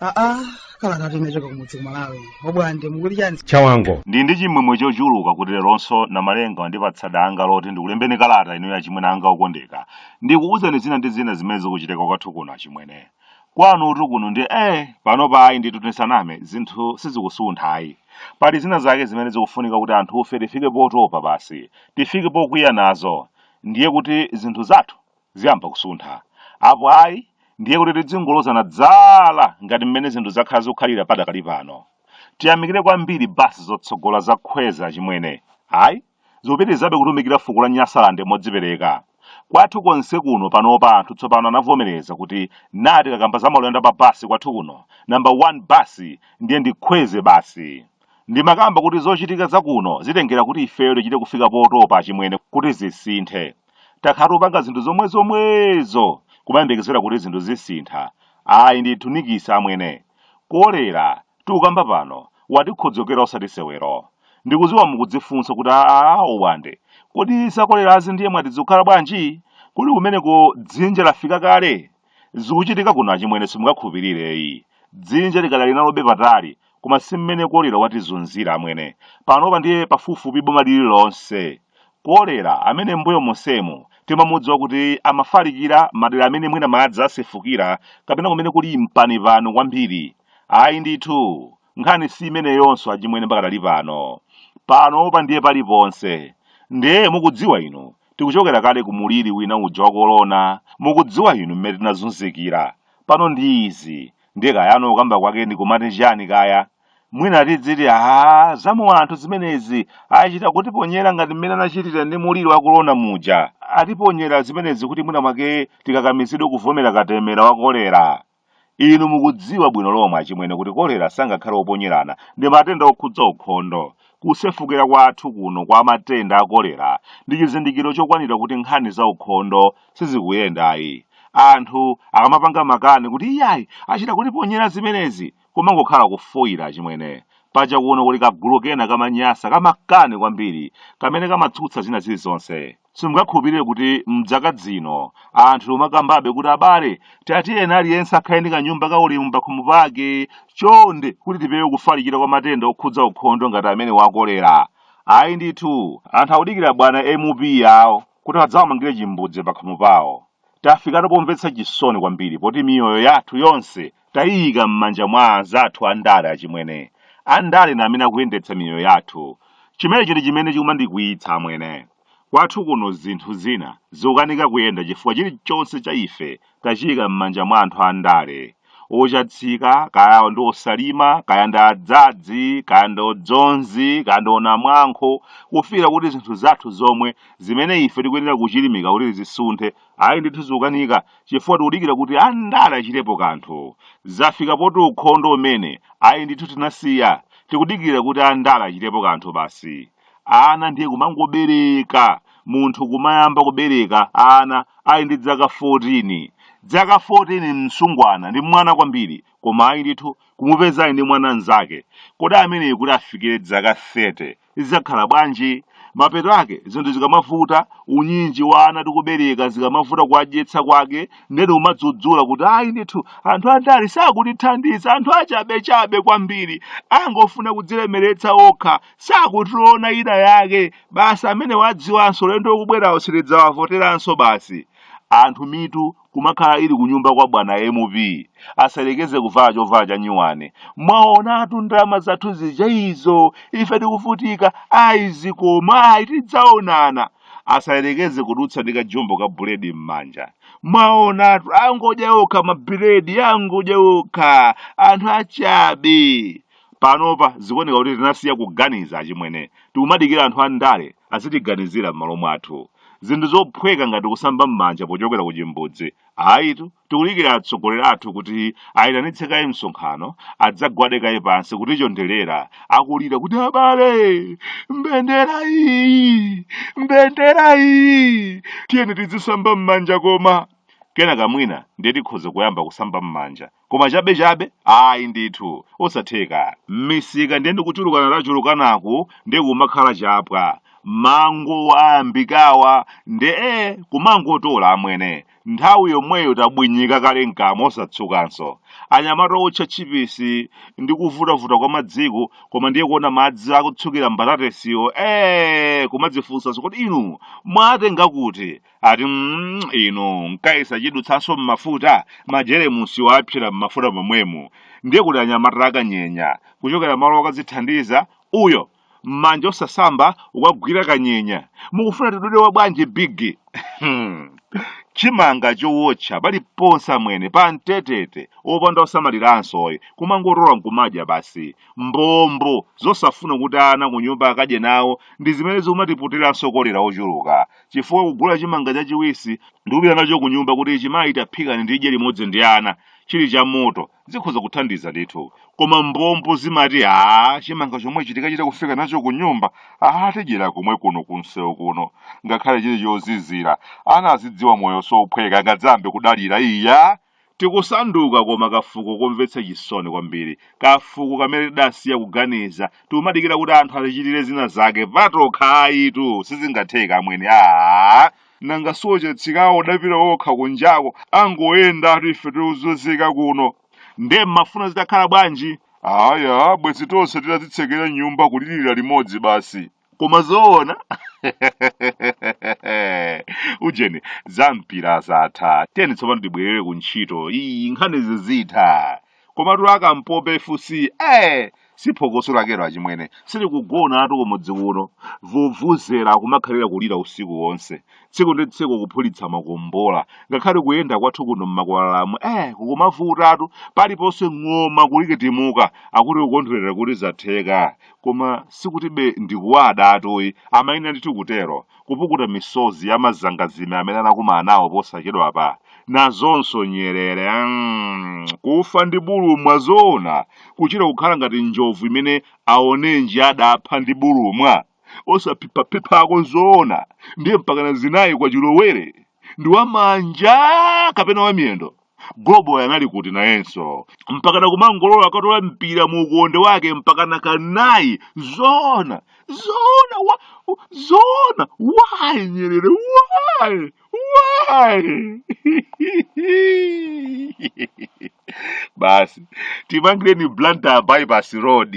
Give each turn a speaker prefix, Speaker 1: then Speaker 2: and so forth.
Speaker 1: aa kalatatu imachoka kumudzi ku Malawi obwande mukuti chani chawango ndili
Speaker 2: ndi
Speaker 3: chimwemwe chochuluka kuti leronso namalenga andipatsa danga loti ndikulembeni kalata ino achimwene anga okondeka ndikuuzani zina ndi zina zimene zikuchitika kwathu kuno achimwene kwanutu kuno ndiye panopa ayi ndithu tisaname zinthu sizikusuntha ayi pali zina zake zimene zikufunika kuti anthufe tifike potopa basi tifike pokwiya nazo ndiye kuti zinthu zathu ziyamba kusuntha apo ayi ndiye kuti tidzingolozana dzala ngati mmene zinthu zakhala zikukhalira padakali pano tiyamikire kwambiri basi zotsogola za Khwezi achimwene ayi Ikupitirizabe kutumikira fuko la Nyasalande modzipereka. Kwathu konse kuno panopa anthu tsopano anavomereza kuti tikakamba za maulendo a pa basi kwathu kuno, number 1 basi ndiye ndi Khwezi basi. Ndimakamba kuti zochitika za kuno zitengera kuti ifeyo tichite kufika potopa achimwene kuti zisinthe. takhala tikupanga zinthu zomwe zomwezo kumayembekezera kuti zinthu zisintha ayi ndithu nikisi amwene kolera tikukamba pano watikhodzokera osati sewero ndikudziwa mukudzifunsa kuti aa obwande kodi zakolerazi ndiye mwati zikukhala bwanji kodi kumeneko dzinja lafika kale Zikuchitika kuno achimwene simungakhulupirire ayi. Dzinja likadali nalobe patali koma si mmene kolera watizunzira amwene. Panopa ndiye pafupifupi boma lililonse. Kolera amene m'mbuyo monsemu timamudziwa kuti amafalikira madera amene mwina madzi asefukira kapena kumene kuli mpanipani kwambiri. Ayi ndithu, nkhani si imeneyonso achimwene pakadali pano panopa ndiye paliponse ndiye mukudziwa inu tikuchokera kale ku muliri wina uja wa korona mukudziwa inu mmene tinazunzikira pano ndi izi ndiye kayano kukamba kwake ndi kumati chani kaya mwina tidziti a zaumoyo anthu zimenezi achita kutiponyera ngati mmene anachitira ndi muliri wa korona muja atiponyera zimenezi kuti mwina mwake tikakamizidwe kuvomera katemera wa kolera Inu mukudziwa bwino lomwe achimwene kuti kolera sangakhale oponyerana, ndi matenda okhudza ukhondo. Kusefukira kwathu kuno kwa matenda a kolera ndi chizindikiro chokwanira kuti nkhani za ukhondo sizikuyenda ayi. Anthu akamapanga makani kuti iyayi achita kutiponyera zimenezi, kumangokhala kufoyira achimwene. Paja kuno kuli kagulu kena ka maNyasa ka makani kwambiri kamene kamatsutsa zina zilizonse. Simungakhulupirire kuti m'zaka zino anthu timakambabe kuti abale tatiyeni aliyense akhale ndi kanyumba kaulemu pakhomo pake chonde kuti tipewe kufalikira kwa matenda okhudza ukhondo ngati amenewa a kolera. Ayi ndithu, anthu akudikira bwana MP awo kuti adzawamangire chimbudzi pakhomo pawo. Tafikatu pomvetsa chisoni kwambiri poti miyoyo yathu yonse Taiika m'manja mwa anzathu andale achimwene. Andale ndi amene akuyendetsa miyoyo yathu. Chimenechi ndi chimene chikumandikwiyitsa amwene. Kwathu kuno zinthu zina zikukanika kuyenda chifukwa chilichonse cha ife tachiika m'manja mwa anthu andale. Ochatsika, kaya ndi osalima, kaya ndi adzadzi, kaya ndi odzonzi, kaya ndi onamwankho, kufikira kuti zinthu zathu zomwe, zimene ife tikuyenera kuchilimika kuti zisunthe, ayi ndithu zikukanika chifukwa tikudikira kuti andale achitepo kanthu zafika poti ukhondo umene ayi ndithu tinasiya tikudikira kuti andale achitepo kanthu basi ana ndiye kumangobereka munthu kumayamba kubereka ana ali ndi dzaka 14 dzaka 14 msungwana ndi mwana kwambiri koma ayi ndithu kumupeza ali ndi mwana mnzake kodi ameneyi kuti afikire dzaka 30 Zidzakhala bwanji? Mapeto ake, zinthu zikamavuta, unyinji wa ana tikubereka zikamavuta kuwadyetsa kwake, ndiyeno kumadzudzula kuti ayi ndithu anthu andale sakutithandiza, anthu achabechabe kwambiri, angofuna kudzilemeretsa okha, sakutiona ina yake, basi amene amadziwanso ulendo ukubwerawo sitidzawavoteranso basi. Anthu mitu kumakhala ili kunyumba kwa bwana mp asayerekeze kuvala chovala cha nyuwani mwaonatu ndalama zathu zija izo ife tikuvutika ayi zikoma ayi tidzaonana asayerekeze kudutsa ndi kajumbo ka buledi m'manja mwaonatu angodya okha mabuledi angodya okha anthu achabe panopa zikuoneka kuti tinasiya kuganiza achimwene tikumadikira anthu andale azitiganizira m'malo mwathu. Zinthu zophweka ngati kusamba m'manja pochokera ku chimbudzi, ayitu. Tikudikira atsogoleri athu kuti ayitanitse kaye msonkhano, adzagwade kaye pansi kutichonderera, akulira kuti abale, mbendera iyi, mbendera iyi, tiyeni tizisamba m'manja koma. Kenaka mwina ndiye tikhoza kuyamba kusamba m'manja. koma chabechabe ayi ndithu osatheka m'misika ndiye ndikuchulukana tachulukanaku ndiye kumakhala chapwa mango ayambikawa nde e kumangotola amwene nthawi yomweyo tabwinyika kale mkamwa osatsukanso anyamata otcha tchipisi ndi kuvutavuta kwa madziko koma ndiye kuona madzi akutsukira mbatatesiwo e kumadzifunsanso kodi inu mwatenga kuti ati mm, inu nkaika chidutsanso mmafuta majeremusi wapsera mmafuta momwemo ndiye kuli anyamata akanyenya kuchokera malo okadzithandiza uyo mmanja osasamba wakagwira kanyenya mukufuna tidule wa bwanji bigi Hmm. chimanga chowotcha paliponse amwene pambetete opanda osamaliranso oyi kumangotola nkumadya basi mbombo zosafuna kuti ana kunyumba akadye nawo ndi zimene zikumatiputiranso kolera wochuluka chifukwa kugula chimanga chachiwisi ndi kupita nacho ku nyumba kuti ichi mayi taphikani ndidye limodzi ndi ana chili cha moto zikhoza kuthandiza ndithu koma mbombo zimati a chimanga chomwechi tikachita kufika nacho ku nyumba a tidyera komwe kuno ku msewu kuno ngakhale chili chozizira ana azidziwa moyo sophweka angadzambe kudalira iya Tikusanduka koma kafuko komvetsa chisoni kwambiri, kafuko kamene tidasiya kuganiza, tikumadikira kuti anthu atichitire zina zake patokha ayitu sizingatheke amwene aah. Nanga si ochatsikawo adapita okha kunjako angoyendatu ife tikuzunzika kuno. Ndiye mmafuna zitakhala bwanji? Aya, bwenzi tonse titadzitsekera m'nyumba kulirira limodzi basi. koma zoona ujeni za mpira zatha tiyeni tsopano tibwerere ku ntchito iyi nkhani zizitha komatu akampope fc eh si phokoso lakelo achimwene sitikugonatu kumudzi kuno vuvuzera kumakhalira kulira usiku wonse tsiku ndi tsiku kuphulitsa makombola ngakhale kuyenda kwathu kuno mmakwalalamu eh kukumavutatu paliponse ng'oma kulikitimuka akuti kukondwerera kuti zatheka koma sikutibe ndikuwadatu ayi amayenera ndithu kutero kupukuta misozi ya mazangazime amene anakumana nawo posachedwapa nazonso nyerere mm, kufa ndi bulumwa zoona kuchita kukhala ngati njovu imene aonenji adapha ndi bulumwa osaphiphaphiphako zoona ndiye mpakana zinayi kwa chilowere ndi wamanja kapena wamiyendo goloboyi anali kuti nayenso mpakana kumangolola akatola mpira mu ukonde wake mpakana kanayi zoona zoona wa, zoona why nyerere why why basi timangireni blantyre bypass road